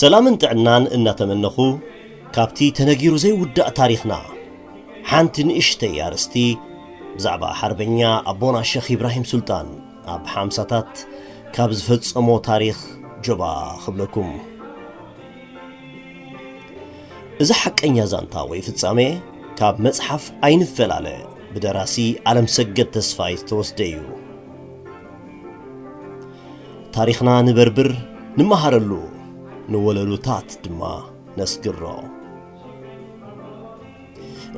ሰላምን ጥዕናን እናተመነኹ ካብቲ ተነጊሩ ዘይውዳእ ታሪኽና ሓንቲ ንእሽተይ ኣርእስቲ ብዛዕባ ሓርበኛ ኣቦና ሸኽ ኢብራሂም ሱልጣን ኣብ ሓምሳታት ካብ ዝፈጸሞ ታሪኽ ጆባ ክብለኩም እዚ ሓቀኛ ዛንታ ወይ ፍጻሜ ካብ መጽሓፍ ኣይንፈላለ ብደራሲ ዓለም ሰገድ ተስፋይ ዝተወስደ እዩ ታሪኽና ንበርብር ንመሃረሉ ንወለሉታት ድማ ነስግሮ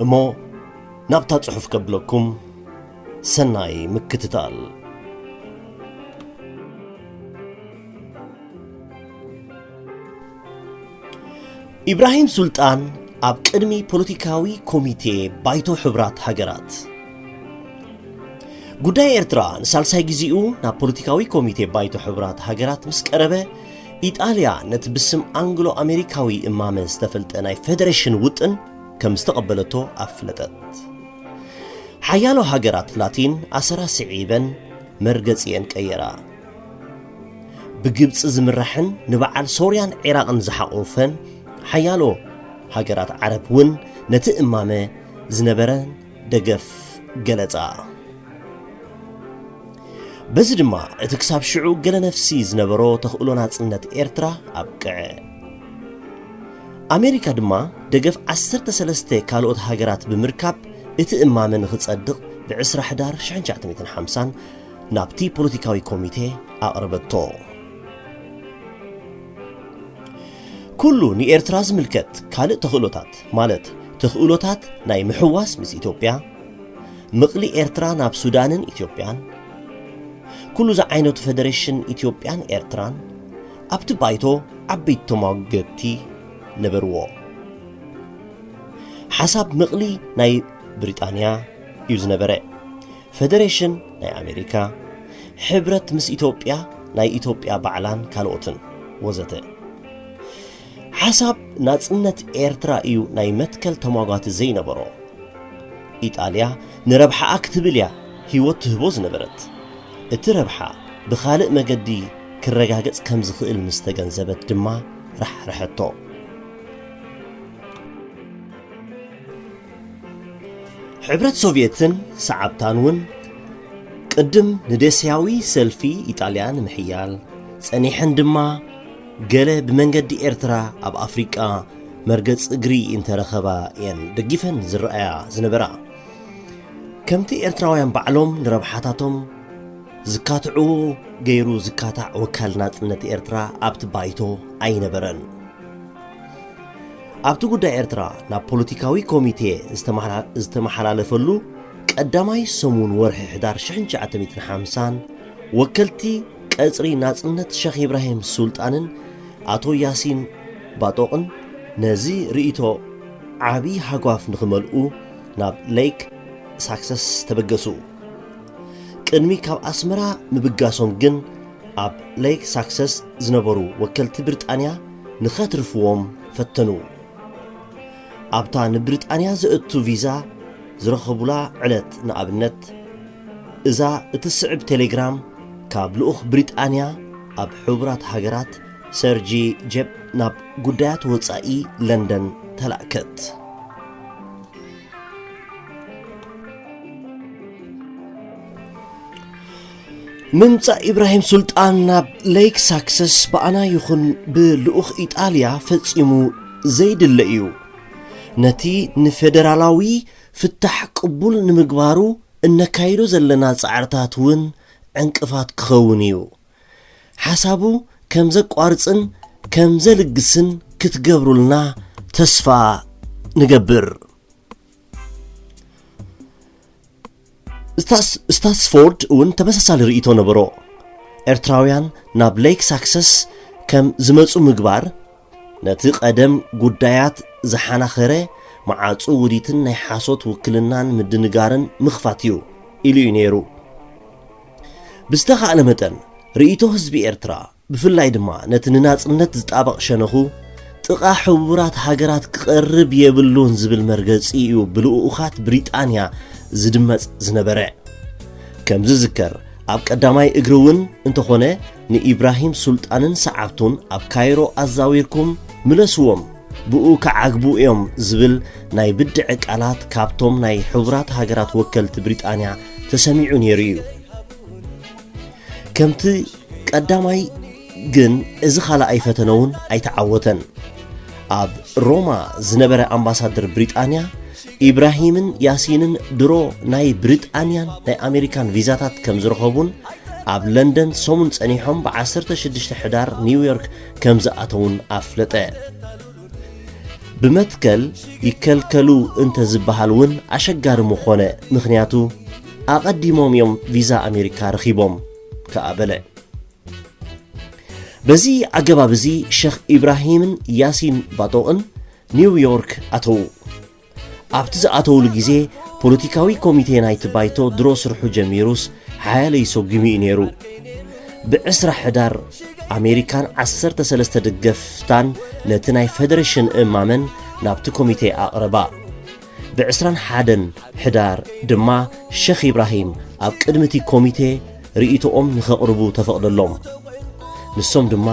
እሞ ናብታ ጽሑፍ ከብለኩም ሰናይ ምክትታል ኢብራሂም ሱልጣን ኣብ ቅድሚ ፖለቲካዊ ኮሚቴ ባይቶ ሕብራት ሃገራት ጉዳይ ኤርትራ ንሳልሳይ ጊዜኡ ናብ ፖለቲካዊ ኮሚቴ ባይቶ ሕብራት ሃገራት ምስ ቀረበ ኢጣልያ ነቲ ብስም ኣንግሎ ኣሜሪካዊ እማመ ዝተፈልጠ ናይ ፈደረሽን ውጥን ከም ዝተቐበለቶ ኣፍለጠት። ሓያሎ ሃገራት ላቲን ኣሰራ ስዒበን መርገጺኤን ቀየራ። ብግብፂ ዝምራሕን ንበዓል ሶርያን ዒራቕን ዝሓቖፈን ሓያሎ ሃገራት ዓረብ እውን ነቲ እማመ ዝነበረን ደገፍ ገለጻ። በዚ ድማ እቲ ክሳብ ሽዑ ገለ ነፍሲ ዝነበሮ ተኽእሎ ናጽነት ኤርትራ ኣብቅዐ። ኣሜሪካ ድማ ደገፍ ዓሰርተ ሰለስተ ካልኦት ሃገራት ብምርካብ እቲ እማመ ንኽጸድቕ ብ20 ሕዳር 1950 ናብቲ ፖለቲካዊ ኮሚቴ ኣቕረበቶ። ኩሉ ንኤርትራ ዝምልከት ካልእ ተኽእሎታት ማለት ተኽእሎታት ናይ ምሕዋስ ምስ ኢትዮጵያ፣ ምቕሊ ኤርትራ ናብ ሱዳንን ኢትዮጵያን፣ ኩሉ ዝዓይነቱ ፈደረሽን ኢትዮጵያን ኤርትራን ኣብቲ ባይቶ ዓበይቲ ተሟገትቲ ነበርዎ። ሓሳብ ምቕሊ ናይ ብሪጣንያ እዩ ዝነበረ፣ ፈደረሽን ናይ ኣሜሪካ፣ ሕብረት ምስ ኢትዮጵያ ናይ ኢትዮጵያ ባዕላን ካልኦትን ወዘተ። ሓሳብ ናጽነት ኤርትራ እዩ ናይ መትከል ተሟጓቲ ዘይነበሮ። ኢጣልያ ንረብሓኣ ክትብል እያ ህይወት ትህቦ ዝነበረት። እቲ ረብሓ ብኻልእ መገዲ ክረጋገጽ ከም ዝኽእል ምስ ተገንዘበት ድማ ራሕረሐቶ። ሕብረት ሶቭየትን ሰዓብታን እውን ቅድም ንዴስያዊ ሰልፊ ኢጣልያ ንምሕያል ጸኒሐን ድማ ገለ ብመንገዲ ኤርትራ ኣብ ኣፍሪቃ መርገጽ እግሪ እንተረኸባ እየን ደጊፈን ዝረኣያ ዝነበራ። ከምቲ ኤርትራውያን ባዕሎም ንረብሓታቶም ዝካትዑ ገይሩ ዝካታዕ ወካል ናጽነት ኤርትራ ኣብቲ ባይቶ ኣይነበረን። ኣብቲ ጉዳይ ኤርትራ ናብ ፖለቲካዊ ኮሚቴ ዝተመሓላለፈሉ ቀዳማይ ሰሙን ወርሒ ሕዳር 1950 ወከልቲ ቀጽሪ ናጽነት ሸኽ ኢብራሂም ሱልጣንን ኣቶ ያሲን ባጦቕን ነዚ ርእይቶ ዓቢ ሃጓፍ ንኽመልኡ ናብ ለይክ ሳክሰስ ተበገሱ። ቅድሚ ካብ ኣስመራ ምብጋሶም ግን ኣብ ለይክ ሳክሰስ ዝነበሩ ወከልቲ ብርጣንያ ንኸትርፍዎም ፈተኑ። ኣብታ ንብሪጣንያ ዘእቱ ቪዛ ዝረኸቡላ ዕለት ንኣብነት፣ እዛ እትስዕብ ቴሌግራም ካብ ልኡኽ ብሪጣንያ ኣብ ሕቡራት ሃገራት ሰርጂ ጀፕ ናብ ጉዳያት ወጻኢ ለንደን ተላእከት። ምምጻእ ኢብራሂም ሱልጣን ናብ ሌክ ሳክሰስ ብኣና ይኹን ብልኡኽ ኢጣልያ ፈጺሙ ዘይድለ እዩ። ነቲ ንፌደራላዊ ፍታሕ ቅቡል ንምግባሩ እነካይዶ ዘለና ጻዕርታት እውን ዕንቅፋት ክኸውን እዩ። ሓሳቡ ከም ዘቋርጽን ከም ዘልግስን ክትገብሩልና ተስፋ ንገብር። ስታትስፎርድ እውን ተመሳሳሊ ርእይቶ ነበሮ። ኤርትራውያን ናብ ሌክ ሳክሰስ ከም ዝመጹ ምግባር ነቲ ቀደም ጉዳያት ዝሓናኸረ መዓጹ ውዲትን ናይ ሓሶት ውክልናን ምድንጋርን ምኽፋት እዩ ኢሉ እዩ ነይሩ። ብዝተኻእለ መጠን ርእይቶ ህዝቢ ኤርትራ ብፍላይ ድማ ነቲ ንናጽነት ዝጣበቕ ሸነኹ ጥቓ ሕቡራት ሃገራት ክቐርብ የብሉን ዝብል መርገጺ እዩ ብልኡኡኻት ብሪጣንያ ዝድመጽ ዝነበረ። ከም ዝዝከር ኣብ ቀዳማይ እግሪ እውን እንተኾነ ንኢብራሂም ሱልጣንን ሰዓብቱን ኣብ ካይሮ ኣዛዊርኩም ምለስዎም ብኡ ክዓግቡ እዮም ዝብል ናይ ብድዐ ቃላት ካብቶም ናይ ሕቡራት ሃገራት ወከልቲ ብሪጣንያ ተሰሚዑ ነይሩ እዩ። ከምቲ ቀዳማይ ግን እዚ ካልኣይ ፈተነ እውን ኣይተዓወተን። ኣብ ሮማ ዝነበረ ኣምባሳደር ብሪጣንያ ኢብራሂምን ያሲንን ድሮ ናይ ብሪጣንያን ናይ ኣሜሪካን ቪዛታት ከም ዝረኸቡን ኣብ ለንደን ሰሙን ጸኒሖም ብ16 ሕዳር ኒውዮርክ ከም ዝኣተውን ኣፍለጠ ብመትከል ይከልከሉ እንተ ዝበሃል እውን ኣሸጋሪ ምኾነ ምኽንያቱ ኣቐዲሞም እዮም ቪዛ ኣሜሪካ ረኺቦም ከኣ በለ። በዚ ኣገባብ እዚ ሸኽ ኢብራሂምን ያሲን ባጦቕን ኒው ዮርክ ኣተዉ። ኣብቲ ዝኣተውሉ ግዜ ፖለቲካዊ ኮሚቴ ናይቲ ባይቶ ድሮ ስርሑ ጀሚሩስ ሓያለይ ሰጒሙ እዩ ነይሩ። ብዕስራ ሕዳር ኣሜሪካን ዓሰርተ ሰለስተ ደገፍታን ነቲ ናይ ፈደረሽን እማመን ናብቲ ኮሚቴ ኣቕረባ። ብዕስራን ሓደን ሕዳር ድማ ሸኽ ኢብራሂም ኣብ ቅድሚ እቲ ኮሚቴ ርእይቶኦም ንኸቕርቡ ተፈቕደሎም። ንሶም ድማ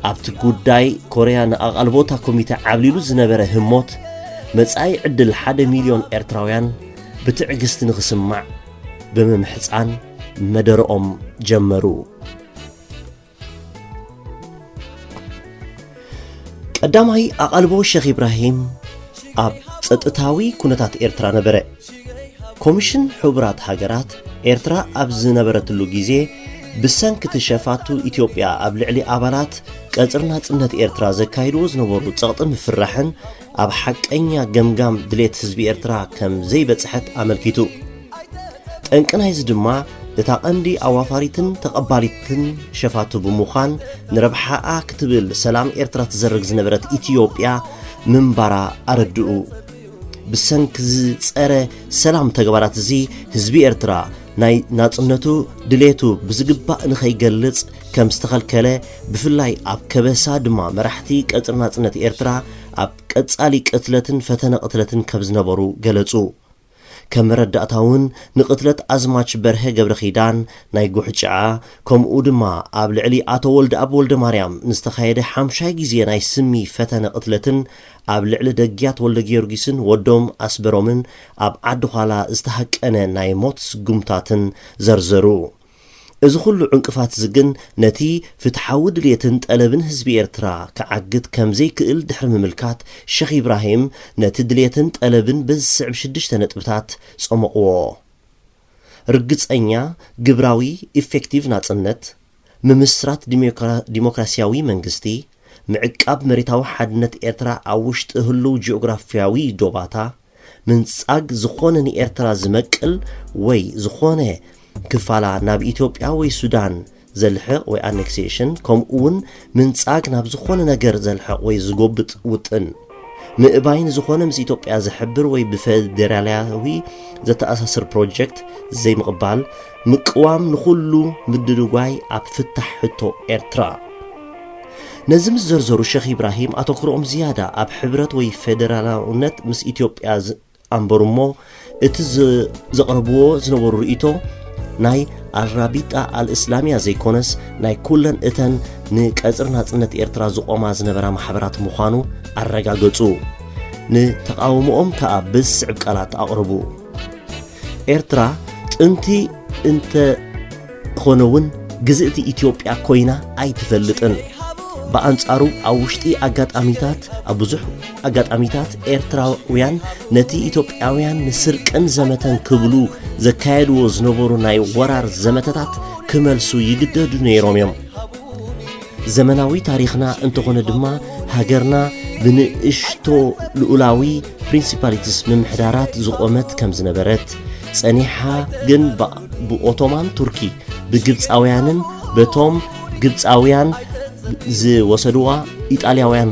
ኣብቲ ጉዳይ ኮርያ ንኣቓልቦ እታ ኮሚቴ ዓብሊሉ ዝነበረ ህሞት መጻኢ ዕድል ሓደ ሚልዮን ኤርትራውያን ብትዕግስቲ ንኽስማዕ ብምምሕጻን መደረኦም ጀመሩ። ቀዳማይ ኣቓልቦ ሸኽ ኢብራሂም ኣብ ጸጥታዊ ኩነታት ኤርትራ ነበረ። ኮሚሽን ሕቡራት ሃገራት ኤርትራ ኣብ ዝነበረትሉ ግዜ ብሰንኪ እቲ ሸፋቱ ኢትዮጵያ ኣብ ልዕሊ ኣባላት ቀጽሪ ናጽነት ኤርትራ ዘካይድዎ ዝነበሩ ጸቕጢ ምፍራሕን ኣብ ሓቀኛ ገምጋም ድሌት ህዝቢ ኤርትራ ከም ዘይበጽሐት ኣመልኪቱ። ጠንቂ ናይዚ ድማ እታ ቀንዲ ኣዋፋሪትን ተቐባሊትን ሸፋቱ ብምዃን ንረብሓኣ ክትብል ሰላም ኤርትራ ትዘርግ ዝነበረት ኢትዮጵያ ምንባራ ኣረድኡ። ብሰንኪ እዚ ጸረ ሰላም ተግባራት እዚ ህዝቢ ኤርትራ ናይ ናጽነቱ ድሌቱ ብዝግባእ ንኸይገልጽ ከም ዝተኸልከለ ብፍላይ ኣብ ከበሳ ድማ መራሕቲ ቀጽሪ ናጽነት ኤርትራ ኣብ ቀጻሊ ቅትለትን ፈተነ ቅትለትን ከም ዝነበሩ ገለጹ። ከም መረዳእታ ውን ንቅትለት ኣዝማች በርሀ ገብረኪዳን፣ ናይ ጉሕጭዓ፣ ከምኡ ድማ ኣብ ልዕሊ ኣቶ ወልደኣብ ወልደማርያም ንዝተኻየደ ሓምሻይ ግዜ ናይ ስሚ ፈተነ ቅትለትን ኣብ ልዕሊ ደግያት ወልደጊዮርጊስን ወዶም ኣስበሮምን ኣብ ዓዲ ዃላ ዝተሃቀነ ናይ ሞት ስጉምታትን ዘርዘሩ። እዚ ኹሉ ዕንቅፋት'ዚ ግን ነቲ ፍትሓዊ ድልየትን ጠለብን ህዝቢ ኤርትራ ክዓግት ከም ዘይክእል ድሕሪ ምምልካት፣ ሸኽ ኢብራሂም ነቲ ድልየትን ጠለብን በዚ ዝስዕብ ሽዱሽተ ነጥብታት ጸሞቕዎ። ርግጸኛ፣ ግብራዊ፣ ኢፌክቲቭ ናጽነት፣ ምምስራት ዲሞክራሲያዊ መንግስቲ፣ ምዕቃብ መሬታዊ ሓድነት ኤርትራ ኣብ ውሽጢ ህሉው ጂኦግራፍያዊ ዶባታ፣ ምንጻግ ዝኾነ ንኤርትራ ዝመቅል ወይ ዝኾነ ክፋላ ናብ ኢትዮጵያ ወይ ሱዳን ዘልሕቕ ወይ ኣኔክሴሽን ከምኡውን ምንጻግ ናብ ዝኾነ ነገር ዘልሕቕ ወይ ዝጎብጥ ውጥን ምእባይ ንዝኾነ ምስ ኢትዮጵያ ዝሕብር ወይ ብፌዴራላዊ ዘተኣሳስር ፕሮጀክት ዘይምቕባል ምቅዋም ንኹሉ ምድርጓይ ኣብ ፍታሕ ሕቶ ኤርትራ ነዚ ምስ ዘርዘሩ ሸኽ ኢብራሂም ኣተኩሮኦም ዝያዳ ኣብ ሕብረት ወይ ፌደራላውነት ምስ ኢትዮጵያ ኣንበሩ እሞ እቲ ዘቕረብዎ ዝነበሩ ርእይቶ ናይ ኣልራቢጣ ኣልእስላምያ ዘይኮነስ ናይ ኩለን እተን ንቀጽሪ ናጽነት ኤርትራ ዝቖማ ዝነበራ ማሕበራት ምዃኑ ኣረጋገጹ። ንተቓውሞኦም ከኣ ብዝስዕብ ቃላት ኣቕርቡ። ኤርትራ ጥንቲ እንተ ኾነ ውን ግዝእቲ ኢትዮጵያ ኮይና ኣይትፈልጥን። ብኣንጻሩ ኣብ ውሽጢ ኣጋጣሚታት ኣብ ብዙሕ ኣጋጣሚታት ኤርትራውያን ነቲ ኢትዮጵያውያን ንስርቅን ዘመተን ክብሉ ዘካየድዎ ዝነበሩ ናይ ወራር ዘመተታት ክመልሱ ይግደዱ ነይሮም እዮም። ዘመናዊ ታሪኽና እንተኾነ ድማ ሃገርና ብንእሽቶ ልኡላዊ ፕሪንሲፓሊትስ ምምሕዳራት ዝቖመት ከም ዝነበረት ጸኒሓ ግን ብኦቶማን ቱርኪ ብግብፃውያንን በቶም ግብፃውያን ዝወሰድዋ ኢጣልያውያን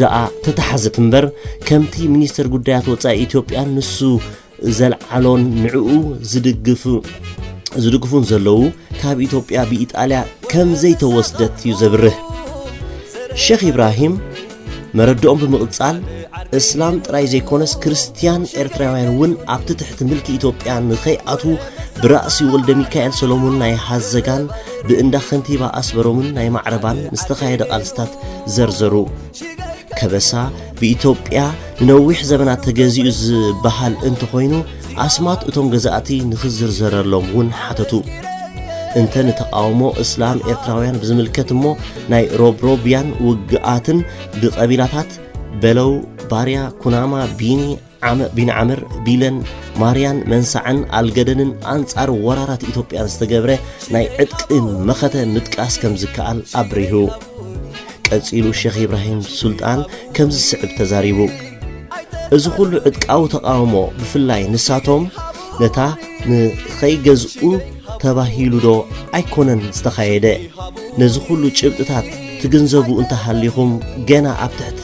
ደኣ ተተሓዘት እምበር ከምቲ ሚኒስተር ጉዳያት ወፃኢ ኢትዮጵያ ንሱ ዘልዓሎን ንዕኡ ዝድግፍ ዝድግፉን ዘለዉ ካብ ኢትዮጵያ ብኢጣልያ ከም ዘይተወስደት እዩ ዘብርህ ሸኽ ኢብራሂም መረድኦም ብምቕጻል እስላም ጥራይ ዘይኮነስ ክርስትያን ኤርትራውያን እውን ኣብቲ ትሕቲ ምልኪ ኢትዮጵያ ንኸይኣትዉ ብራእሲ ወልደ ሚካኤል ሰሎሞን ናይ ሃዘጋን ብእንዳ ከንቲባ ኣስበሮምን ናይ ማዕረባን ዝተኻየደ ቃልስታት ዘርዘሩ ከበሳ ብኢትዮጵያ ንነዊሕ ዘበናት ተገዚኡ ዝበሃል እንተኾይኑ ኣስማት እቶም ገዛእቲ ንኽዝርዘረሎም እውን ሓተቱ። እንተ ንተቓውሞ እስላም ኤርትራውያን ብዝምልከት እሞ ናይ ሮብሮብያን ውግኣትን ብቐቢላታት በለው፣ ባርያ፣ ኩናማ፣ ቢኒ፣ ቢን ዓምር ቢለን ማርያን መንሳዕን ኣልገደንን ኣንጻር ወራራት ኢትዮጵያን ዝተገብረ ናይ ዕጥቂ መኸተ ምጥቃስ ከም ዝከኣል ኣብሪሁ ቀጺሉ ሸኽ ኢብራሂም ሱልጣን ከምዚ ዝስዕብ ተዛሪቡ እዚ ኹሉ ዕጥቃዊ ተቓውሞ ብፍላይ ንሳቶም ነታ ንኸይገዝኡ ተባሂሉ ዶ ኣይኮነን ዝተኻየደ ነዚ ኹሉ ጭብጥታት ትግንዘቡ እንተሃሊኹም ገና ኣብ ትሕቲ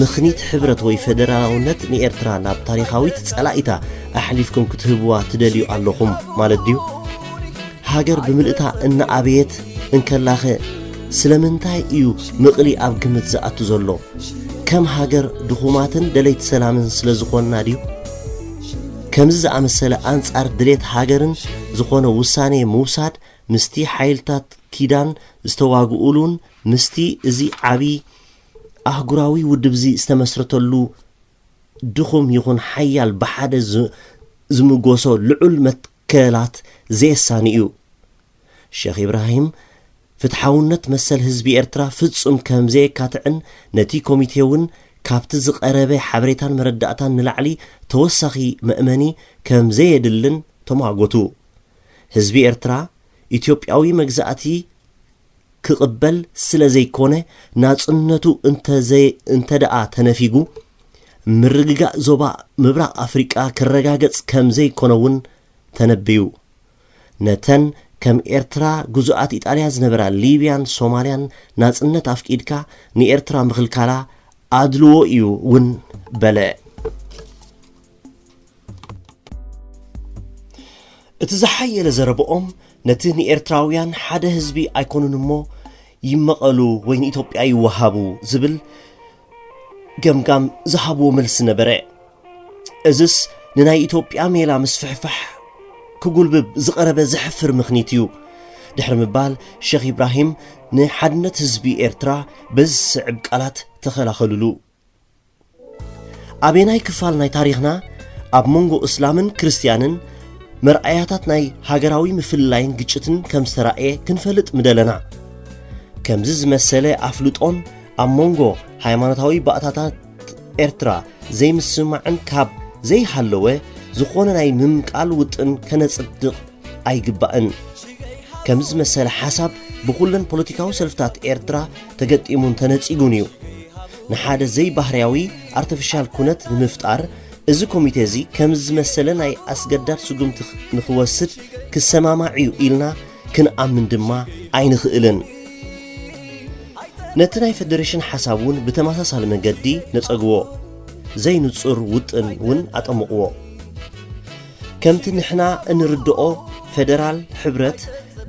ምኽኒት ሕብረት ወይ ፈደራላውነት ንኤርትራ ናብ ታሪኻዊት ጸላኢታ ኣሕሊፍኩም ክትህብዋ ትደልዩ ኣለኹም ማለት ድዩ ሃገር ብምልእታ እናኣበየት እንከላኸ ስለምንታይ እዩ ምቕሊ ኣብ ግምት ዝኣቱ ዘሎ? ከም ሃገር ድኹማትን ደለይቲ ሰላምን ስለ ዝኾንና ድዩ? ከምዚ ዝኣመሰለ ኣንጻር ድሌት ሃገርን ዝኾነ ውሳኔ ምውሳድ ምስቲ ሓይልታት ኪዳን ዝተዋግኡሉን ምስቲ እዚ ዓቢ ኣህጉራዊ ውድብዚ ዝተመስረተሉ ድኹም ይኹን ሓያል ብሓደ ዝምጎሶ ልዑል ክእላት ዘየሳኒ እዩ። ሸኽ ኢብራሂም ፍትሓውነት መሰል ህዝቢ ኤርትራ ፍጹም ከም ዘየካትዕን ነቲ ኮሚቴ እውን ካብቲ ዝቐረበ ሓበሬታን መረዳእታን ንላዕሊ ተወሳኺ መእመኒ ከም ዘየድልን ተሟጎቱ። ህዝቢ ኤርትራ ኢትዮጵያዊ መግዛእቲ ክቕበል ስለ ዘይኮነ ናጽነቱ እንተ ዘይ እንተ ደኣ ተነፊጉ ምርግጋእ ዞባ ምብራቕ ኣፍሪቃ ክረጋገጽ ከም ዘይኮነ እውን ተነብዩ። ነተን ከም ኤርትራ ግዙኣት ኢጣልያ ዝነበራ ሊብያን ሶማልያን ናጽነት ኣፍቂድካ ንኤርትራ ምኽልካላ ኣድልዎ እዩ እውን በለ። እቲ ዝሓየለ ዘረብኦም ነቲ ንኤርትራውያን ሓደ ህዝቢ ኣይኮኑን እሞ ይመቐሉ ወይ ንኢትዮጵያ ይወሃቡ ዝብል ገምጋም ዝሃብዎ መልሲ ነበረ እዝስ ንናይ ኢትዮጵያ ሜላ ምስፍሕፋሕ ክጉልብብ ዝቐረበ ዘሕፍር ምኽኒት እዩ ድሕሪ ምባል ሸኽ ኢብራሂም ንሓድነት ህዝቢ ኤርትራ በዝስዕብ ቃላት ተኸላኸሉሉ ኣበናይ ክፋል ናይ ታሪኽና ኣብ መንጎ እስላምን ክርስትያንን መርኣያታት ናይ ሃገራዊ ምፍልላይን ግጭትን ከም ዝተራእየ ክንፈልጥ ምደለና ከምዚ ዝመሰለ ኣፍልጦን ኣብ መንጎ ሃይማኖታዊ ባእታታት ኤርትራ ዘይምስማዕን ካብ ዘይሃለወ ዝኾነ ናይ ምምቃል ውጥን ከነጽድቕ ኣይግባእን። ከምዚ ዝመሰለ ሓሳብ ብኹለን ፖለቲካዊ ሰልፍታት ኤርትራ ተገጢሙን ተነጺጉን እዩ። ንሓደ ዘይባህርያዊ፣ ኣርተፍሻል፣ ኩነት ንምፍጣር እዚ ኮሚቴ እዚ ከምዚ ዝመሰለ ናይ ኣስገዳድ ስጉምቲ ንኽወስድ ክሰማማዕ እዩ ኢልና ክንኣምን ድማ ኣይንኽእልን። ነቲ ናይ ፈደሬሽን ሓሳብ እውን ብተመሳሳሊ መንገዲ ነጸግዎ። ዘይንጹር ውጥን እውን ኣጠምቕዎ። ከምቲ ንሕና እንርድኦ ፌደራል ሕብረት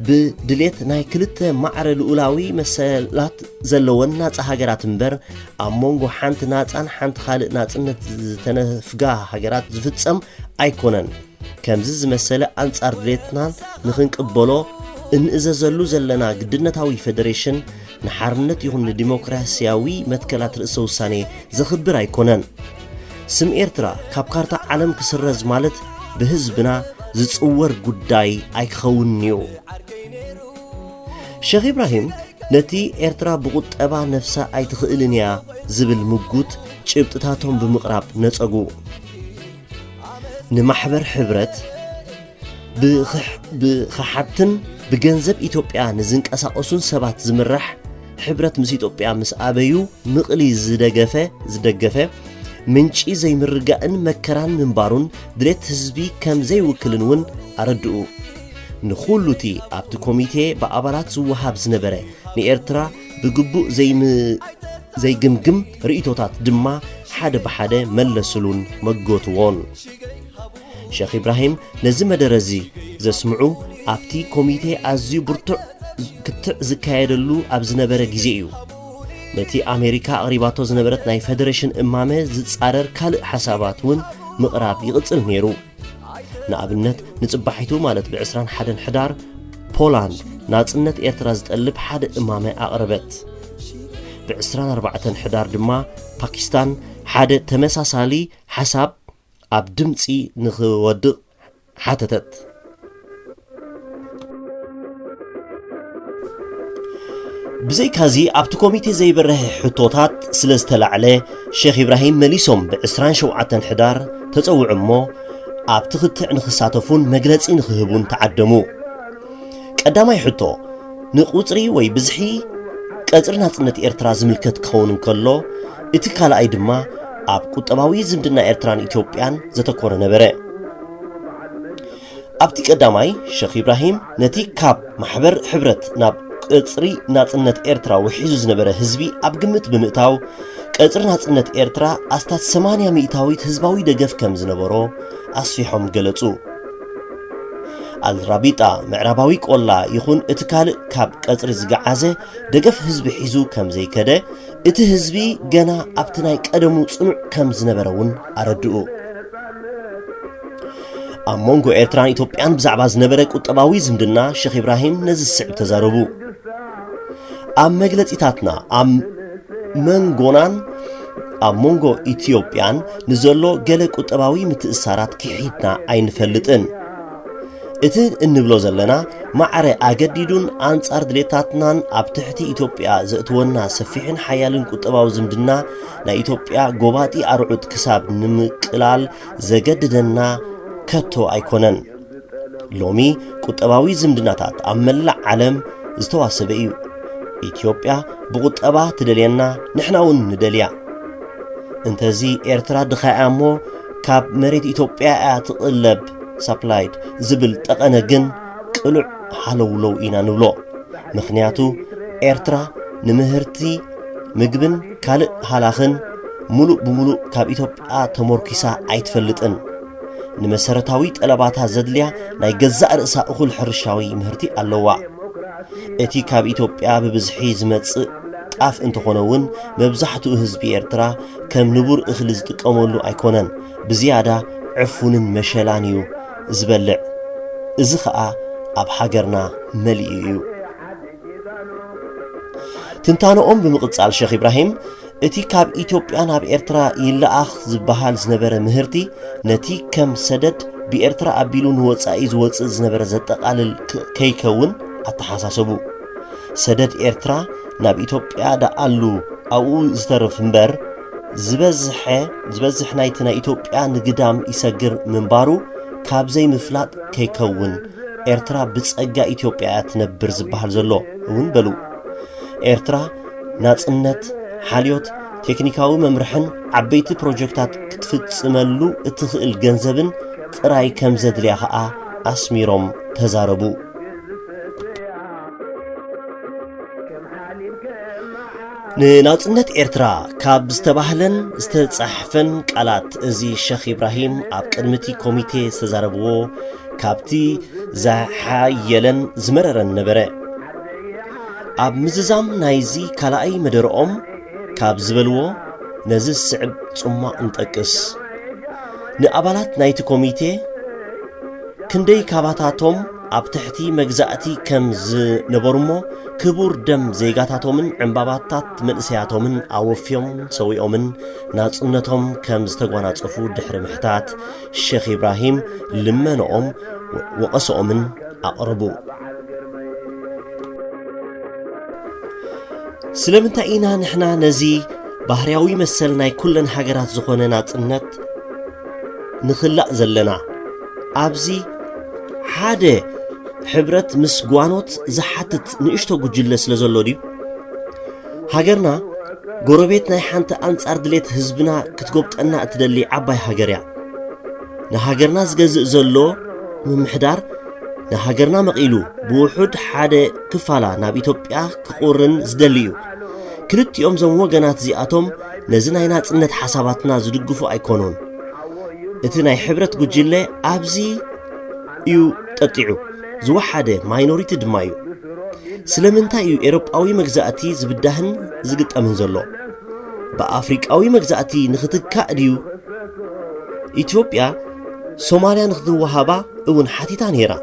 ብድሌት ናይ ክልተ ማዕረ ልኡላዊ መሰላት ዘለወን ናፃ ሃገራት እምበር ኣብ መንጎ ሓንቲ ናፃን ሓንቲ ካልእ ናፅነት ዝተነፍጋ ሃገራት ዝፍፀም ኣይኮነን። ከምዚ ዝመሰለ ኣንጻር ድሌትናን ንኽንቅበሎ እንእዘዘሉ ዘለና ግድነታዊ ፌደሬሽን ንሓርነት ይኹን ንዲሞክራሲያዊ መትከላት ርእሰ ውሳኔ ዘኽብር ኣይኮነን። ስም ኤርትራ ካብ ካርታ ዓለም ክስረዝ ማለት ብህዝብና ዝጽወር ጉዳይ ኣይክኸውንን እዩ። ሸኽ ኢብራሂም ነቲ ኤርትራ ብቑጠባ ነፍሳ ኣይትኽእልን እያ ዝብል ምጉት ጭብጥታቶም ብምቕራብ ነጸጉ። ንማሕበር ሕብረት ብኸሓድትን ብገንዘብ ኢትዮጵያ ንዝንቀሳቐሱን ሰባት ዝምራሕ ሕብረት ምስ ኢትዮጵያ ምስ ኣበዩ ምቕሊ ዝደገፈ ዝደገፈ ምንጪ ዘይምርጋእን መከራን ምንባሩን ድሌት ህዝቢ ከም ዘይውክልን እውን ኣረድኡ ንኹሉ እቲ ኣብቲ ኮሚቴ ብኣባላት ዝወሃብ ዝነበረ ንኤርትራ ብግቡእ ዘይግምግም ርእቶታት ድማ ሓደ ብሓደ መለስሉን መጎትዎን ሸኽ ኢብራሂም ነዚ መደረ እዚ ዘስምዑ ኣብቲ ኮሚቴ ኣዝዩ ብርቱዕ ክትዕ ዝካየደሉ ኣብ ዝነበረ ግዜ እዩ። ነቲ ኣሜሪካ ኣቕሪባቶ ዝነበረት ናይ ፈደረሽን እማመ ዝጻረር ካልእ ሓሳባት እውን ምቕራብ ይቕጽል ነይሩ። ንኣብነት ንጽባሒቱ ማለት ብ21 ሕዳር ፖላንድ ናጽነት ኤርትራ ዝጠልብ ሓደ እማመ ኣቕረበት። ብ24 ሕዳር ድማ ፓኪስታን ሓደ ተመሳሳሊ ሓሳብ ኣብ ድምጺ ንኽወድቕ ሓተተት። ብዘይካዚ ኣብቲ ኮሚቴ ዘይበርሀ ሕቶታት ስለ ዝተላዕለ ሼኽ ኢብራሂም መሊሶም ብዕስራን ሸውዓተን ሕዳር ተጸውዑ እሞ ኣብቲ ክትዕ ንኽሳተፉን መግለጺ ንኽህቡን ተዓደሙ። ቀዳማይ ሕቶ፣ ንቁጽሪ ወይ ብዝሒ ቀጽሪ ናጽነት ኤርትራ ዝምልከት ክኸውን እንከሎ፣ እቲ ካልኣይ ድማ ኣብ ቁጠባዊ ዝምድና ኤርትራን ኢትዮጵያን ዘተኮረ ነበረ። ኣብቲ ቀዳማይ፣ ሸኽ ኢብራሂም ነቲ ካብ ማሕበር ሕብረት ናብ ቀጽሪ ናጽነት ኤርትራ ውሒዙ ዝነበረ ህዝቢ ኣብ ግምት ብምእታው፣ ቀጽሪ ናጽነት ኤርትራ ኣስታት ሰማንያ ሚእታዊት ህዝባዊ ደገፍ ከም ዝነበሮ ኣስፊሖም ገለጹ። ኣልራቢጣ ምዕራባዊ ቆላ ይኹን እቲ ካልእ ካብ ቀጽሪ ዝገዓዘ ደገፍ ህዝቢ ሒዙ ከም ዘይከደ እቲ ህዝቢ ገና ኣብቲ ናይ ቀደሙ ጽኑዕ ከም ዝነበረ እውን ኣረድኡ ኣብ መንጎ ኤርትራን ኢትዮጵያን ብዛዕባ ዝነበረ ቁጠባዊ ዝምድና ሸኽ ኢብራሂም ነዚ ዝስዕብ ተዛረቡ ኣብ መግለጺታትና ኣብ መንጎናን ኣብ መንጎ ኢትዮጵያን ንዘሎ ገለ ቁጠባዊ ምትእሳራት ክሒድና ኣይንፈልጥን። እቲ እንብሎ ዘለና ማዕረ ኣገዲዱን ኣንጻር ድሌታትናን ኣብ ትሕቲ ኢትዮጵያ ዘእትወና ሰፊሕን ሓያልን ቁጠባዊ ዝምድና ናይ ኢትዮጵያ ጎባጢ ኣርዑት ክሳብ ንምቅላል ዘገድደና ከቶ ኣይኮነን። ሎሚ ቁጠባዊ ዝምድናታት ኣብ መላእ ዓለም ዝተዋሰበ እዩ ኢትዮጵያ ብቁጠባ ትደልየና ንሕና እውን ንደልያ እንተዚ ኤርትራ ድኻ እያ እሞ ካብ መሬት ኢትዮጵያ እያ ትቕለብ ሳፕላይድ ዝብል ጠቐነ ግን ቅሉዕ ሃለውለው ኢና ንብሎ ምክንያቱ ኤርትራ ንምህርቲ ምግብን ካልእ ሃላኽን ሙሉእ ብሙሉእ ካብ ኢትዮጵያ ተሞርኪሳ ኣይትፈልጥን ንመሰረታዊ ጠለባታ ዘድልያ ናይ ገዛእ ርእሳ እኹል ሕርሻዊ ምህርቲ ኣለዋ እቲ ካብ ኢትዮጵያ ብብዝሒ ዝመጽእ ጣፍ እንተኾነ እውን መብዛሕትኡ ህዝቢ ኤርትራ ከም ንቡር እኽሊ ዝጥቀመሉ ኣይኮነን ብዝያዳ ዕፉንን መሸላን እዩ ዝበልዕ እዚ ኸኣ ኣብ ሃገርና መሊኡ እዩ ትንታነኦም ብምቕጻል ሸኽ ኢብራሂም እቲ ካብ ኢትዮጵያ ናብ ኤርትራ ይለኣኽ ዝበሃል ዝነበረ ምህርቲ ነቲ ከም ሰደድ ብኤርትራ ኣቢሉ ንወጻኢ ዝወጽእ ዝነበረ ዘጠቓልል ከይከውን ኣተሓሳሰቡ። ሰደድ ኤርትራ ናብ ኢትዮጵያ ደኣሉ ኣብኡ ዝተርፍ እምበር ዝበዝሐ ዝበዝሕ ናይቲ ናይ ኢትዮጵያ ንግዳም ይሰግር ምንባሩ ካብ ዘይምፍላጥ ከይከውን ኤርትራ ብጸጋ ኢትዮጵያ እያ ትነብር ዝበሃል ዘሎ እውን በሉ። ኤርትራ ናጽነት፣ ሓልዮት፣ ቴክኒካዊ መምርሕን ዓበይቲ ፕሮጀክታት ክትፍጽመሉ እትኽእል ገንዘብን ጥራይ ከም ዘድልያ ኸኣ ኣስሚሮም ተዛረቡ። ንናጽነት ኤርትራ ካብ ዝተባህለን ዝተጻሕፈን ቃላት እዚ ሸኽ ኢብራሂም ኣብ ቅድሚቲ ኮሚቴ ዝተዛረብዎ ካብቲ ዝሓየለን ዝመረረን ነበረ ኣብ ምዝዛም ናይዚ ካልኣይ መደረኦም ካብ ዝበልዎ ነዚ ዝስዕብ ጽሟቕ ንጠቅስ ንኣባላት ናይቲ ኮሚቴ ክንደይ ካባታቶም ኣብ ትሕቲ መግዛእቲ ከም ዝነበሩ እሞ ክቡር ደም ዜጋታቶምን ዕምባባታት መንእሰያቶምን ኣወፍዮም ሰዊኦምን ናጽነቶም ከም ዝተጓናጸፉ ድሕሪ ምሕታት ሸኽ ኢብራሂም ልመነኦም ወቐሰኦምን ኣቕረቡ። ስለምንታይ ኢና ንሕና ነዚ ባህርያዊ መሰል ናይ ኩለን ሃገራት ዝኾነ ናጽነት ንኽላእ ዘለና? ኣብዚ ሓደ ሕብረት ምስ ጓኖት ዝሓትት ንእሽቶ ጉጅለ ስለ ዘሎ ድዩ ሃገርና ጎረቤት ናይ ሓንቲ ኣንጻር ድሌት ህዝብና ክትጎብጠና እትደሊ ዓባይ ሃገር እያ ንሃገርና ዝገዝእ ዘሎ ምምሕዳር ንሃገርና መቒሉ ብውሑድ ሓደ ክፋላ ናብ ኢትዮጵያ ክቑርን ዝደሊ እዩ ክልቲኦም ዞም ወገናት እዚኣቶም ነዚ ናይ ናጽነት ሓሳባትና ዝድግፉ ኣይኮኑን እቲ ናይ ሕብረት ጉጅለ ኣብዚ እዩ ጠጢዑ፣ ዝወሓደ ማይኖሪቲ ድማ እዩ። ስለምንታይ እዩ ኤሮጳዊ መግዛእቲ ዝብዳህን ዝግጠምን ዘሎ? ብኣፍሪቃዊ መግዛእቲ ንኽትካእ ድዩ? ኢትዮጵያ ሶማልያ ንኽትወሃባ እውን ሓቲታ ነይራ።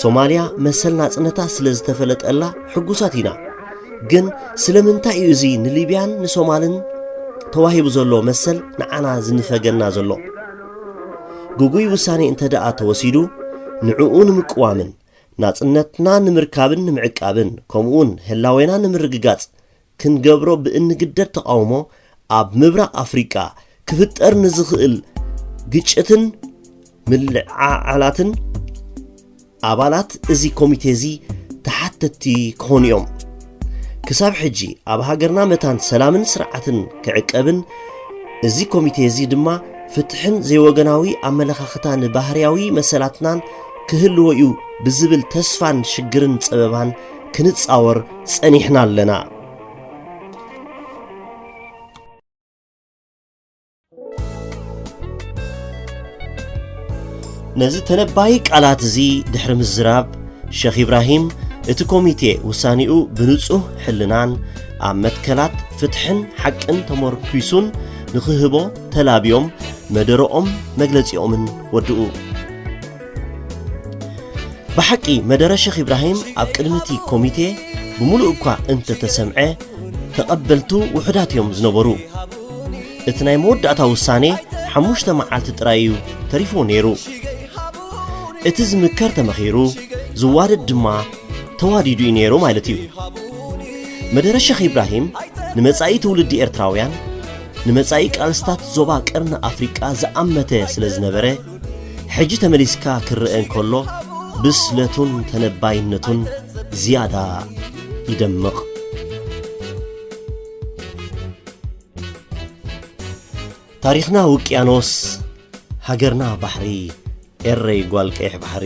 ሶማልያ መሰል ናጽነታ ስለ ዝተፈለጠላ ሕጉሳት ኢና። ግን ስለምንታይ እዩ እዚ ንሊብያን ንሶማልን ተዋሂቡ ዘሎ መሰል ንዓና ዝንፈገና ዘሎ ግጉይ ውሳኔ እንተ ደኣ ተወሲዱ ንዕኡ ንምቅዋምን ናጽነትና ንምርካብን ንምዕቃብን ከምኡውን ህላዌና ንምርግጋጽ ክንገብሮ ብእንግደድ ተቓውሞ ኣብ ምብራቕ ኣፍሪቃ ክፍጠር ንዝኽእል ግጭትን ምልዕዓላትን ኣባላት እዚ ኮሚቴ እዚ ተሓተትቲ ክኾኑ እዮም ክሳብ ሕጂ ኣብ ሃገርና መታን ሰላምን ስርዓትን ክዕቀብን እዚ ኮሚቴ እዚ ድማ ፍትሕን ዘይወገናዊ ኣመለኻኽታን ባህርያዊ መሰላትናን ክህልዎ እዩ ብዝብል ተስፋን ሽግርን ጸበባን ክንጻወር ጸኒሕና ኣለና ነዚ ተነባዪ ቃላት እዚ ድሕሪ ምዝራብ ሸኽ ኢብራሂም እቲ ኮሚቴ ውሳኔኡ ብንጹህ ሕልናን ኣብ መትከላት ፍትሕን ሓቅን ተመርኲሱን ንኽህቦ ተላብዮም መደረኦም መግለጺኦምን ወድኡ። ብሓቂ መደረ ሸኽ ኢብራሂም ኣብ ቅድሚ እቲ ኮሚቴ ብምሉእ እኳ እንተተሰምዐ ተቐበልቱ ውሑዳት እዮም ዝነበሩ እቲ ናይ መወዳእታ ውሳኔ ሓሙሽተ መዓልቲ ጥራይ እዩ ተሪፎ ነይሩ እቲ ዝምከር ተመኺሩ ዝዋደድ ድማ ተዋዲዱ እዩ ነይሩ ማለት እዩ መደረ ሸኽ ኢብራሂም ንመጻኢ ትውልዲ ኤርትራውያን ንመጻኢ ቃልስታት ዞባ ቀርኒ ኣፍሪቃ ዝኣመተ ስለ ዝነበረ ሕጂ ተመሊስካ ክረኣ እንከሎ ብስለቱን ተነባይነቱን ዝያዳ ይደምቕ። ታሪኽና ውቅያኖስ ሃገርና ባሕሪ ኤረይ ጓል ቀይሕ ባሕሪ።